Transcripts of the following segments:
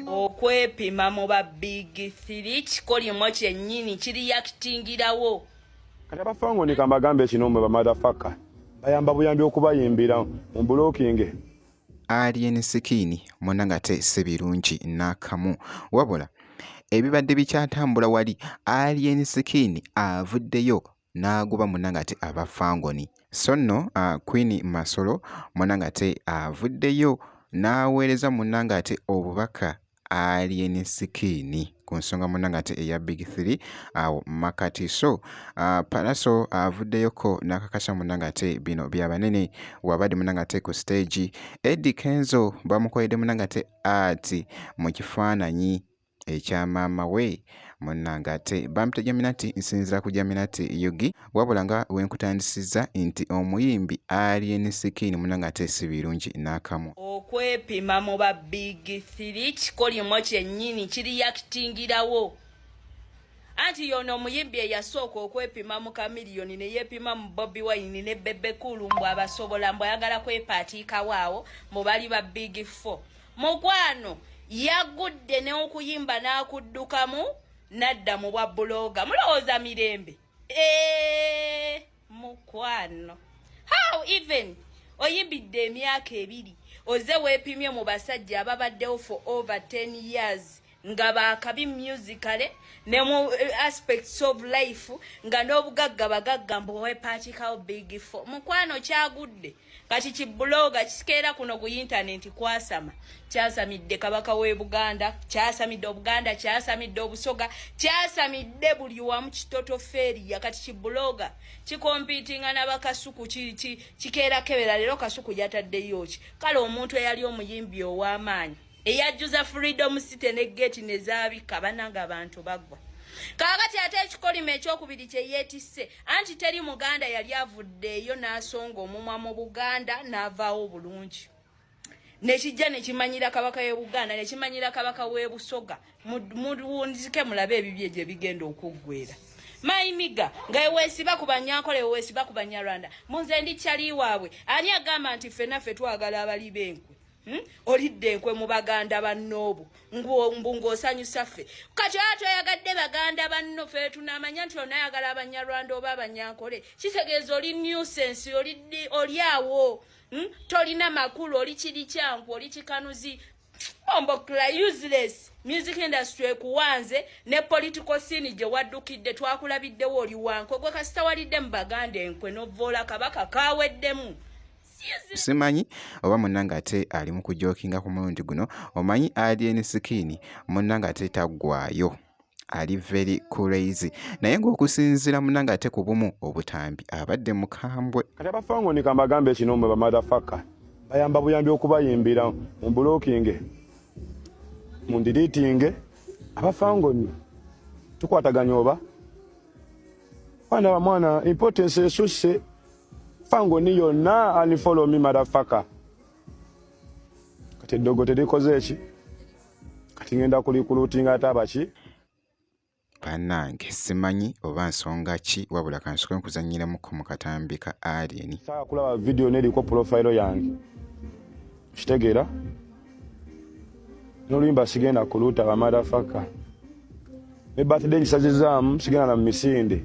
okwepima mu ba big three kikolimo kyennyini kiriyakitingirawo kati abafango ni kambagambe kino mwe bamadhafaka bayamba buyambi okubayimbira mu bulokinge alien skin muna nga te si birungi n'akamu wabula ebibadde bikyatambula wali alien skin avuddeyo n'agoba munnange ate aba Fangoni. So nno Queen Masolo munnange ate avuddeyo n'aweereza munnange ate obubaka Alien Skin ku nsonga munnange ate eya Big Three awo Makati. So Pallaso avuddeyoko n'akakasa munnange ate bino bya banene wabadde munnange ate ku siteegi. Eddy Kenzo bamukoledde munnange ate art mu kifaananyi. ekya maama we munnange ate bampita jaminati nsinzira ku jaminati yugi wabula nga wenkutandisizza nti omuyimbi alien skin munnange ate si birungi n'akamu okwepima mu ba big thiri kikolimo kyennyini kiriyakitingirawo anti yono omuyimbi eyasooka okwepima mu kamiliyoni ne yeepima mu bobi wayini ne bebekulu mbu abasobola mbu ayagala kwepaatiikawo awo mu bali ba big four mukwano yagudde n'okuyimba n'akuddukamu nadda mu bwa buloga mulowooza mirembe eee eh, mukwano how even oyimbidde emyaka ebiri oze weepimye mu basajja ababaddewo for over 10 years nga bakabi musically ne mu eh, aspects of life nga n'obugagga bagagga mbu wepaakikawo big fo mukwano kyagudde kati kibuloga kikeera kuno ku yintanenti kwasama kyasamidde kabaka w'e buganda kyasamidde obuganda kyasamidde obusoga kyasamidde buli wamu kitoto feria kati kibuloga kikompitinga nabakasuku kikeera kebera leero kasuku yataddeyo ki kale omuntu eyali omuyimbi ow'amaanyi eyajjuza freedom city ne gate nezabika bananga abantu bagwa kaakati ate ekikolimo ekyokubiri kye yeetisse anti teri muganda yali avuddeeyo n'asonga omumwa mu buganda n'avaawo bulungi nekijja nekimanyira kabaka ye buganda nekimanyira kabaka w'ebusoga muwunzike mulabe ebibye gye bigenda okuggwera mayimiga nga ewesiba ku banyankole ewesiba ku banyarwanda munze ndi kyali waabwe ani agamba nti ffenaffe twagala abali b'enkwe Hmm? olidde enkwe mu baganda bannoobo mbu ng'osanyusa ffe kati oyo toyagadde baganda banno fe tunamanya nti onayagala abanyarwanda oba abanyankole kitegeeza oli newsense oli awo hmm? tolina makulu oli kiri kyanku oli kikanuzi ombokla useless music industry ekuwanze ne political scene gye waddukidde twakulabiddewo oli wankwe gwe kasitawalidde mu baganda enkwe novoola kabaka kaweddemu simanyi oba munnange ate ali mu kujokinga ku mulundi guno omanyi alien sikiini munnange ate taggwayo ali very crazy naye ng'okusinziira munnange ate ku bumu obutambi abadde mukambwe kati abafango ni kambagambe kino mwe bamathafaka bayamba buyambi okubayimbira mu bulokinge mu ndiritinge abafangoni tukwataganya oba baana bamwana importance esusse fango ni yonna ani follow me madafaka kati eddogo terikoze eki kati ngenda kulikulutinga ate abaki banange simanyi oba nsonga ki wabula kansoke nkuzanyiramuko mu katambi ka alien saa kulaba vidiyo neriko pulofayiro yange kitegeera noluyimba sigenda kuluuta bamadafaka ne birthday ngisazizaamu sigenda na mumisinde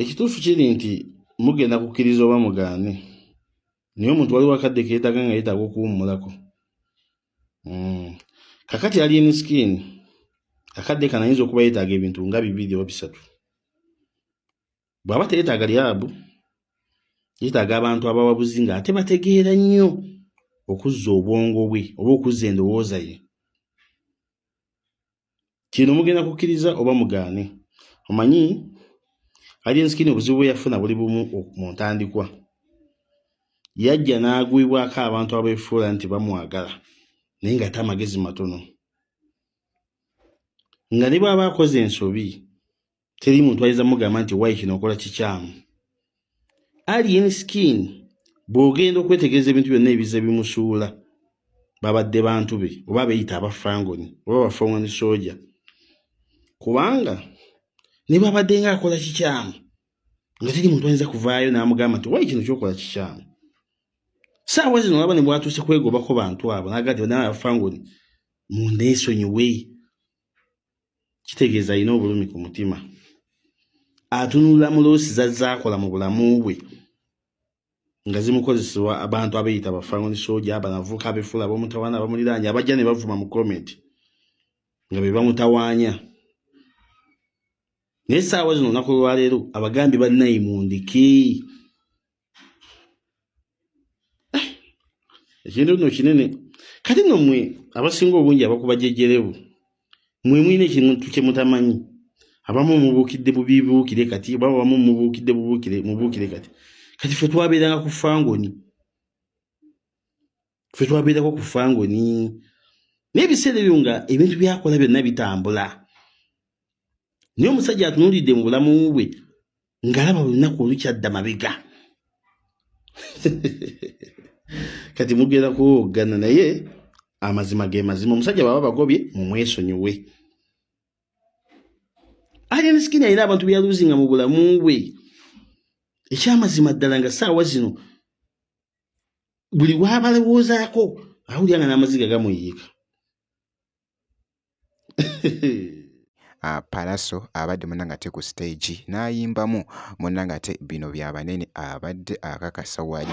ekituufu kiri nti mugenda kukkiriza oba mugaane naye omuntu waliwo akadde keetaga nga yetaaga okuwummulako hmm. kakati ali enisikini akadde kano ayinza okuba yetaaga ebintu nga bibiri oba bisatu bw'aba teyetaaga lyabu yetaaga abantu abawabuzi nga ate bategeera nnyo okuzza obwongo bwe oba okuzza endowooza ye kino mugenda kukkiriza oba mugaane omanyi alinsikini obuzibu bwe yafuna buli bumu mu ntandikwa yajja n'agwibwako abantu abefuula nti bamwagala naye ngate amagezi matono nga ne bwaba akoze ensobi teri muntu ayinza mugamba nti wayi kino okola kikyamu alien skin bw'ogenda okwetegereza ebintu byonna ebiza bimusuula babadde bantu be oba beyita abafangoni oba bafangoni soja kubanga ne bwabadde nga akola kikyamu nga teri muntu ayinza kuvaayo n'amugamba nti wayi kino kyokola kikyamu saawa zino olaba ne bwatuuse kwegobako bantu abo naga nti banawe abafangoni mundeesonyiwe kitegeeza alina obulumi ku mutima atunula mu loosi zazaakola mu bulamu bwe nga zimukozesebwa abantu abeyita bafangoni soja abanavuka abefula abamutawana abamuliranya abajja ne bavuma mu komenti nga be bamutawanya naye saawa zino olunaku lwaleero abagambye banayi mundiki eh, ekintu no kinene kati no mwe abasinga obungi abakuba jejerebu mwe mwine kintu kye mutamanyi abamu mubukidde bubibuukire kati oba abamu mubukidde bubuukire mubuukire kati kati ffe twabeeranga ku fangoni fe twabeerako ku fangoni naye ebiseera ebyo nga ebintu byakola byonna bitambula naye omusajja atunuulidde mu bulamu bwe ng'alaba buli lunaku olukyadda mabega kati mugenda kuwoggana naye amazima ge mazima omusajja baba bagobye mumwesonyiwe alien skin alina abantu beyaluzinga mu bulamu bwe ekyamazima ddala nga saawa zino buli wabalowoozaako awulira nga n'amaziga gamuyiika Ah, Palaso abadde munnange ate ku siteegi n'ayimbamu munnange ate bino bya banene abadde akakasa wali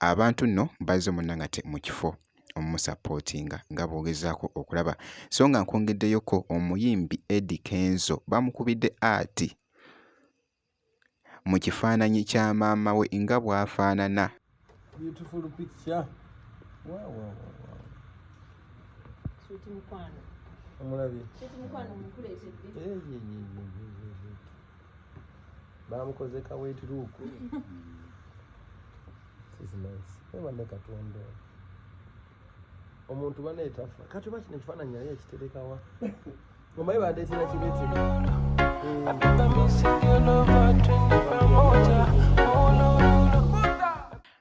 abantu nno bazze omunnangate mu kifo omumusapootinga nga bw'ogezaako okulaba so nga nkwongeddeyoko omuyimbi Eddy Kenzo bamukubidde ati mu kifaananyi kya maama we nga bw'afaanana Beautiful picture. Wow, wow, wow, wow. Sweet Mukwano. Omulabye. Sweet Mukwano mukuleetedde. Hey, hey, hey, hey, hey. bamukoze ka wet look this nice eba ne katonda omuntu bana etafa kati baki ne kifana nyaye kitereka wa mama iba ade tira kibeti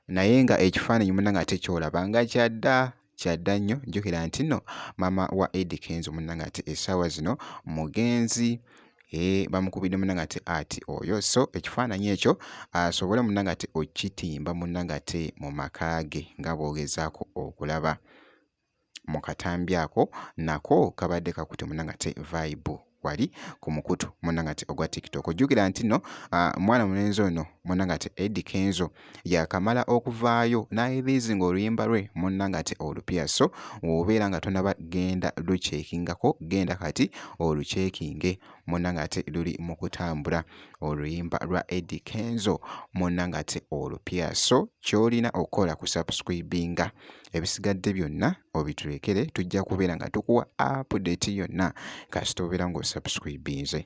naye nga ekifaananyi muna nga tekyolaba nga kyadda kyadda nnyo jjukira nti nno maama wa Eddy Kenzo munnange ate essaawa zino mugenzi ee eh, bamukubidde munnange ate ati oyo so ekifaananyi ekyo asobole munnange ate okitimba munnange ate mu maka ge nga bw'ogezaako okulaba mu katambi ako nako kabadde kakute munnange ate vayibu. wali ku mukutu munangati ogwa tiktok ojjukira nti no mwana mulenzi ono munangati edi kenzo yakamala okuvaayo nayebizing oluyimba lwe munangati olupya so wobeera nga tonaba genda lukyekingako genda kati olukyekinge munangati luli mu kutambula oluyimba lwa edi kenzo munangati olupya so kyolina okukola ku subscribinga ebisigadde byonna obitulekere tujja kubeera nga tukuwa update yonna kasita obeera ng'osubscribinze.